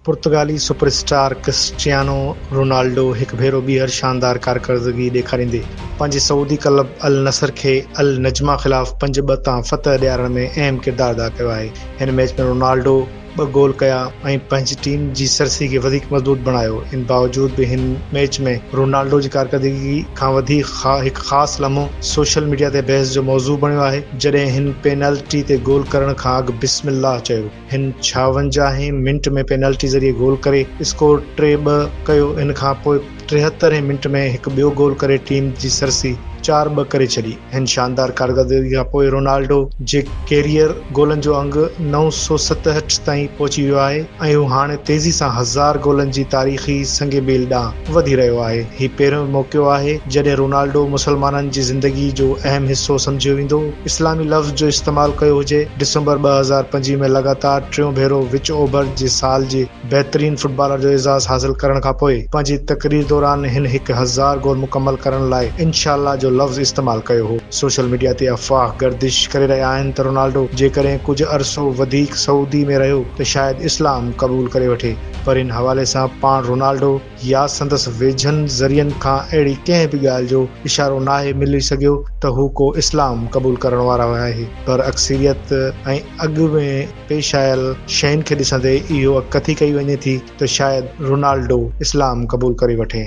پرتگالي super star Cristiano Ronaldo هڪ ڀيرو ٻيهر شاندار ڪارڪردگي ڏيکاريندي پنهنجي سعودي ڪلب النصر کي النجمه خلاف پنج ٻه تان فتح ڏيارڻ ۾ اهم ڪردار ادا ڪيو آهي هن ميچ ۾ رونالڊو ٻه گول ڪيا ۽ پنهنجي ٽيم جي سرسي کي وڌيڪ مضبوط بڻايو، ان باوجود به هن ميچ ۾ رونالڊو جي ڪارڪردگي کان وڌي هڪ خاص لمحو سوشل ميڊيا تي بحث جو موضوع بڻيو آهي جڏهن هن پينلٽي تي گول ڪرڻ کان اڳ بسم الله چيو هن ڇاونجاهه هين منٽ ۾ پينلٽي ذريعي گول ڪري اسڪور ٽي ٻه ڪيو ان کانپوء ٽيهتر هين منٽ ۾ هڪ ٻيو گول ڪري ٽيم جي سرسي چار ٻه ڪري ڇڏي. هن شاندار ڪارڪردگي کان پوء رونالڊو جي ڪيريئر گولن جو انگ نو سؤ ستهٺ تائين پهچي ويو آهي ۽ هو هاڻي تيزي سان هزار گولن جي تاريخي سنگ ميل ڏانهن وڌي رهيو آهي. هي پهريون موقعو آهي جڏهن رونالڊو مسلمانن جي زندگي جو اهم حصو سمجهيو ويندو. اسلامي لفظ جو استعمال ڪيو هجي. ڊسمبر ٻه هزار پنج ۾ لڳاتار ٽيون ڀيرو وچ اوڀر جي سال جي. بهترين فٽبالر جو اعزاز حاصل ڪرڻ کان پوء پنهنجي تقرير دوران هن هڪ هزار گول مڪمل ڪرڻ لاء انشاء الله جو لفظ استعمال ڪيو هو. سوشل ميڊيا تي افواهه گردش ڪري رهيا آهن ته رونالڊو جيڪڏهن ڪجهه عرصو وڌيڪ سعودي ۾ رهيو ته شايد اسلام قبول ڪري وٺي پر ان حوالي سان پاڻ رونالڊو يا سندس ويجهن ذريعن کان اهڙي ڪنهن به ڳالهه جو اشارو ناهي ملي سگهيو ته هو ڪو اسلام قبول ڪرڻ وارو آهي پر اڪثريت ۽ اڳ ۾ پيش آيل شين کي ڏسندي اهو اڪٿي ڪئي وڃي ٿي ته شايد رونالڊو اسلام قبول ڪري وٺي.